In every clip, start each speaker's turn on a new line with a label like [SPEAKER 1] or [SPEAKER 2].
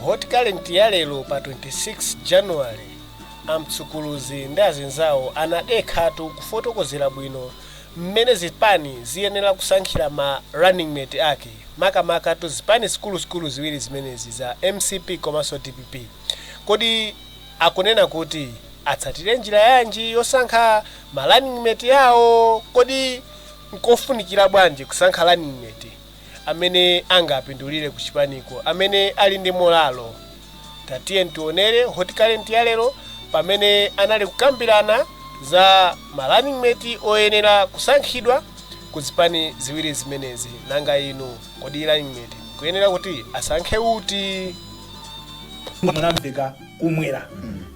[SPEAKER 1] hot current ya lero pa 26 january amtsukuluzi ndi azinzawo anadekhatu kufotokozera bwino mmene zipani ziyenera kusankhira ma running mate ake makamaka ku zipani zikuluzikulu ziwiri zimenezi za mcp komanso dpp kodi akunena kuti Atsatire njira yanji yosankha ma running mate awo? Kodi nkofunikira bwanji kusankha running mate amene angapindulire ku chipaniko, amene ali ndi molalo? Tatiyeni tionere Hot Current ya lero pamene anali kukambirana za ma running mate oyenera kusankhidwa ku zipani ziwiri zimenezi. Nanga inu, kodi running mate mukuyenera kuti asankhe uti?
[SPEAKER 2] Mwamveka kumwera.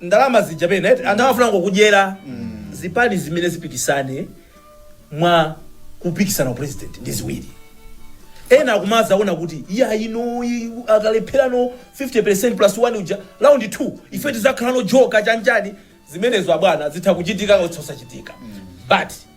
[SPEAKER 2] ndalama zija pena eti anthu amafuna kungodyera zipani zimene zipikisane mwa kupikisana upresident ndi ziwiri ena akumazaona kuti iya ino i- akalepherano 50 percent plus 1 uja round 2 ife tizakhalano joka chanjani zimenezo abwana zitha kuchitika osati kusachitika but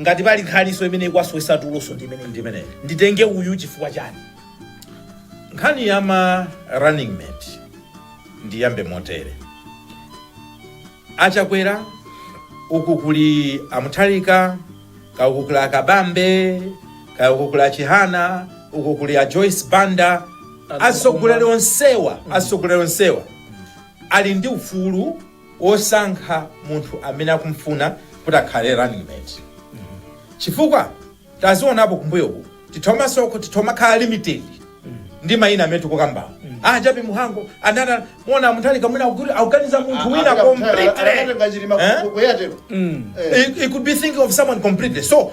[SPEAKER 2] ngati pali nkhaniso imene ikuwasowetsa tuloso ndi imene ndi imeneyo nditenge uyu chifukwa
[SPEAKER 3] chani nkhani ya ma running mate ndiyambe motere achakwera uku kuli amutharika kaya uku kuli akabambe kaya uku kuli achihana uku kuli a joyce banda atsogoleri onsewa atsogoleri onsewa ali ndi ufulu osankha munthu amene akumfuna kuti akhale running mate chifukwa tazionapo kumbuyoku titha kumangoti titha kumakhala limited ndi mayina amene tikukambawo a jappie mhango anana muona mutharika mwina akuganiza munthu wina completely Eh? He, he could be thinking of someone completely. So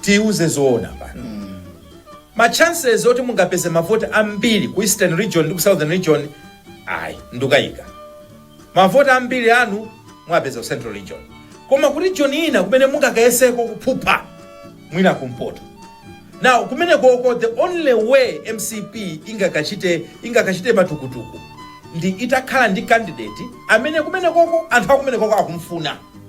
[SPEAKER 3] tiuze zoona pano ma chances oti mungapeze mavoti ambiri ku eastern region ndi ku southern region ayi ndukayika mavoti ambiri anu muwapeza ku central region koma ku region ina kumene mungakayeseko kuphupha mwina kumpoto now kumene koko the only way mcp ingakachite matukutuku ndi itakhala ndi candidate amene kumene koko anthu akumene koko akumfuna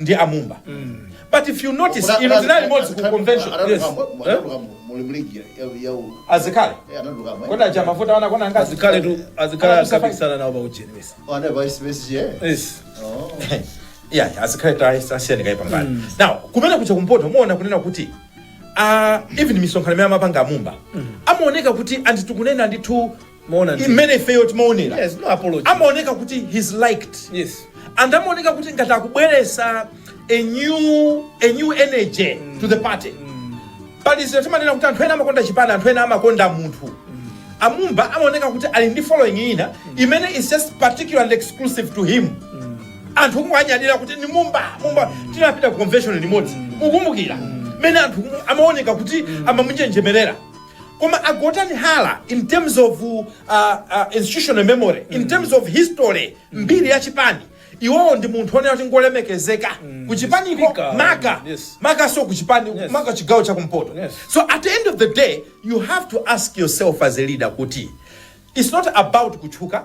[SPEAKER 3] ndi a Mumba but if you notice ino tinali limodzi ku convention yes eh? azikale kodi aja amavuta a anakhongazi azikale tu azikale Ana kusafanya.
[SPEAKER 2] akapikisana nawo paujeni bese
[SPEAKER 3] yes yeah azikale tawasiyani kaye pambali now kumene kuja kumpoto muona kunena kuti uh, even misonkhano imene amapanga amumba amaoneka kuti anthu tikunena ndithu imene ifeyo timaonera Yes, no apology.
[SPEAKER 2] amaoneka kuti
[SPEAKER 3] he's liked Yes.
[SPEAKER 2] and amaoneka
[SPEAKER 3] kuti ngati akubweresa a new, a new energy to the party pali zinthu timanena kuti anthu ena amakonda chipani anthu ena amakonda munthu amumba amaoneka kuti ali ndi following ina imene is just particular and exclusive to him anthu kumawanyadira kuti ndi mumba mumba tinapita ku convention limodzi mukumbukira mene anthu kumwe amaoneka kuti amamunjenjemerera Koma a Gotani Hara in terms of institutional memory, in terms of history, mbiri ya chipani, iwowo ndi munthu onena kuti ngolemekezeka ku chipaniko makamakaso ku chipani maka chigawo cha kumpoto. So at the end of the day you have to ask yourself as a leader kuti it's not about kutchuka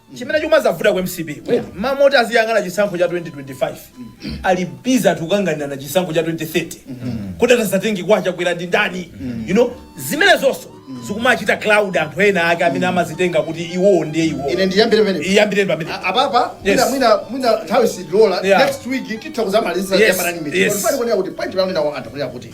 [SPEAKER 2] chimene chikumazavuta ku mcp mmalo moti aziyang'ana chisankho cha 2025 ali busy ati kukanganirana chisankho cha 2030 kuti atadzatenge kwa chakwera ndi ndani you know zimenezonso zikumachita cloud anthu ena ake amene amazitenga kuti iwowo ndiye iwowo ine ndiyambire pamene
[SPEAKER 4] iyambireni pamene
[SPEAKER 2] A- apapa Yes.
[SPEAKER 4] mwina mwina mwina nthawi sidilola Yeah. next week titha kuzamaliza Yes, yamanani yes. meeting pali kuonera kuti point pamene nawo anthu kunena kuti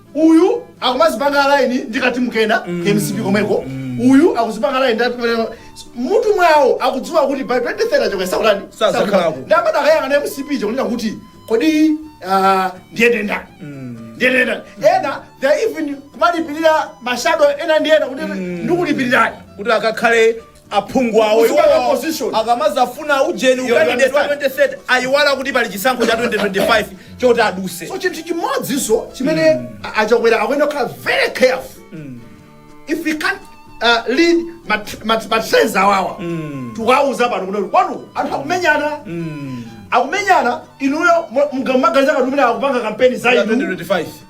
[SPEAKER 4] Uyu akumazipanga align ndi ka team kena ka mcp komweko. Uyu akuzipanga align ndi ati- mutu mwawo akudziwa kuti by 2030 Chakwera satani. Sadzakhalako. Nde amati akayang'ana mcp chakunena kuti kodi ah, ndiyende ndani. Ndiyende ndani. Ena they are even kumalipirira mashado ena ndi ena kuti ndikulipirirani kuti akakhale
[SPEAKER 2] aphungu awo Kuzipanga iwowo position. akamazafuna ujeni Yo, ukandidate wa understand. 2030 ayiwala kuti pali chisankho cha 2025 choti aduse so chinthu chimodziso
[SPEAKER 4] chimene a- achakwera akuyenera kukhala very careful if we can uh, read mat- mat- matrends awawa tiwauza pano kunena kuti kwanu anthu akumenyana akumenyana inuyo mukamaganiza kuti mmene akupanga kampeni za inu 2025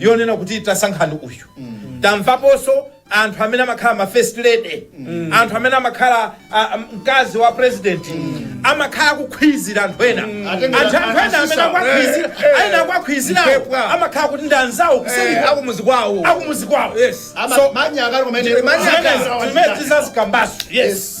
[SPEAKER 3] yonena kuti tasankhani uyu tamvaponso anthu amene amakhala ma first lady anthu amene amakhala ah, ah, mkazi wa president amakhala kukhwizira anthu ena Atengera anthu anthu ena amene asisa. akwakhwizira Eh, eh. aena akwakhwizirawo Mpepwa. amakhala kuti ndi anzawo kuseri akumuzi kwawo
[SPEAKER 2] akumuzi kwawo Yes.
[SPEAKER 4] Ama- So-
[SPEAKER 3] manya akali kumene-
[SPEAKER 2] Manya Manya
[SPEAKER 3] akali. akali. Zimene- zimene tizazikambaso
[SPEAKER 4] yes